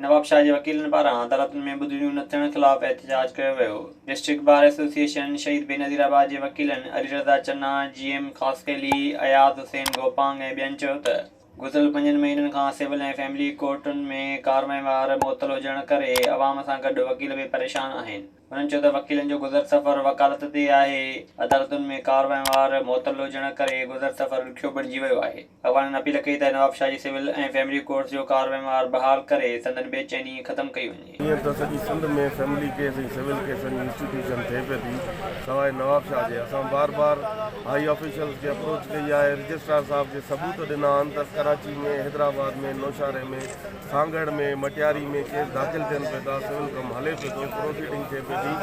نوابشاهه جي وڪيلن پاران عدالتن ۾ ٻڌڻيون نه ٿيڻ خلاف احتجاج ڪيو ويو، district bar association Shaheed Benazir آباد جي وڪيلن علي رضا چنا، جي ايم خاصخيلي، اياز حسين گوپانگ ۽ ٻين چيو ته گذريل پنجن مهينن کان سول ۽ فيملي ڪورٽن ۾ ڪارروائين وار معطل هجڻ ڪري عوام سان گڏ وڪيل به پريشان آهن. هنن چيو ته وڪيلن جو گذر سفر وڪالت تي آهي، عدالتن ۾ ڪار وهنوار معطل هجڻ ڪري گذر سفر ڏکيو بڻجي ويو آهي، اڳواڻن اپيل ڪئي ته نواب شاهه جي سول ۽ فيملي ڪورٽس جو ڪار وهنوار بحال ڪري سندن بي چيني ختم ڪئي وڃي. هينئر ته سڄي سنڌ ۾ فيملي ڪيس ۽ سول ڪيسن جي انسٽيٽيوشن ٿئي پئي ٿي، سواء نواب شاهه جي، اسان بار بار هائي آفيشلز کي اپروچ ڪئي آهي، رجسٽرار صاحب کي ثبوت ڏنا آهن ته ڪراچي ۾، حيدرآباد ۾، نوشهري ۾، سانگهڙ ۾ مٽياري ۾ ڪيس داخل ٿين پئي ٿا سول ڪم هلي پيو ٿو پروسيڊنگ ٿئي پئي ٿي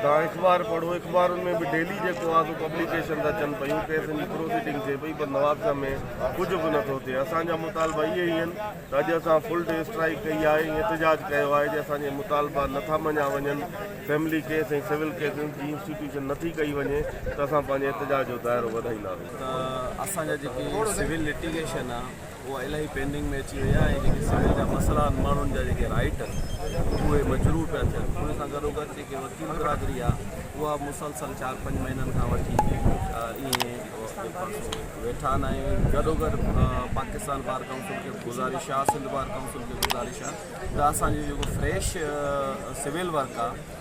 توهان اخبار پڙهو اخبارن ۾ به ڊيلي جيڪو آهي سو پبليڪيشن ته اچن پيون ڪيسن جي پروسيڊنگ ٿئي پئي پر نوابشاهه ۾ ڪجهه به نٿو ٿئي اسان جا مطالبا اهي ئي آهن ته اڄ اسان فل ڊي اسٽرائيڪ ڪئي آهي ۽ احتجاج ڪيو آهي جي اسان جي مطالبا نٿا مڃيا وڃن فيملي ڪيس ۽ سول ڪيسز جي انسٽيٽيوشن نٿي ڪئي وڃي ته اسان پنهنجي احتجاج جو دائرو وڌائينداسين ته اسان جا جيڪي سول لٽيگيشن آهي اها الائي پينڊنگ ۾ اچي وئي آهي ۽ جيڪي سول جا مسئلا آهن ماڻهن جا جيڪي رائٽ آهن اهي مجروح پيا ٿين ان سان گڏو گڏ جيڪي وڪيل برادري آهي اها مسلسل چار پنج مهينن کان وٺي ائين ويٺا آهن ۽ گڏو گڏ پاڪستان بار ڪائونسل کي گزارش آهي سنڌ بار ڪائونسل کي گزارش آهي ته اسانجو جيڪو فريش سول ورڪ آهي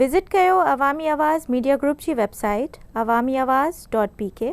وزٽ ڪيو عوامي آواز ميڊيا گروپ جي website Awami Awaz dot P ڪي.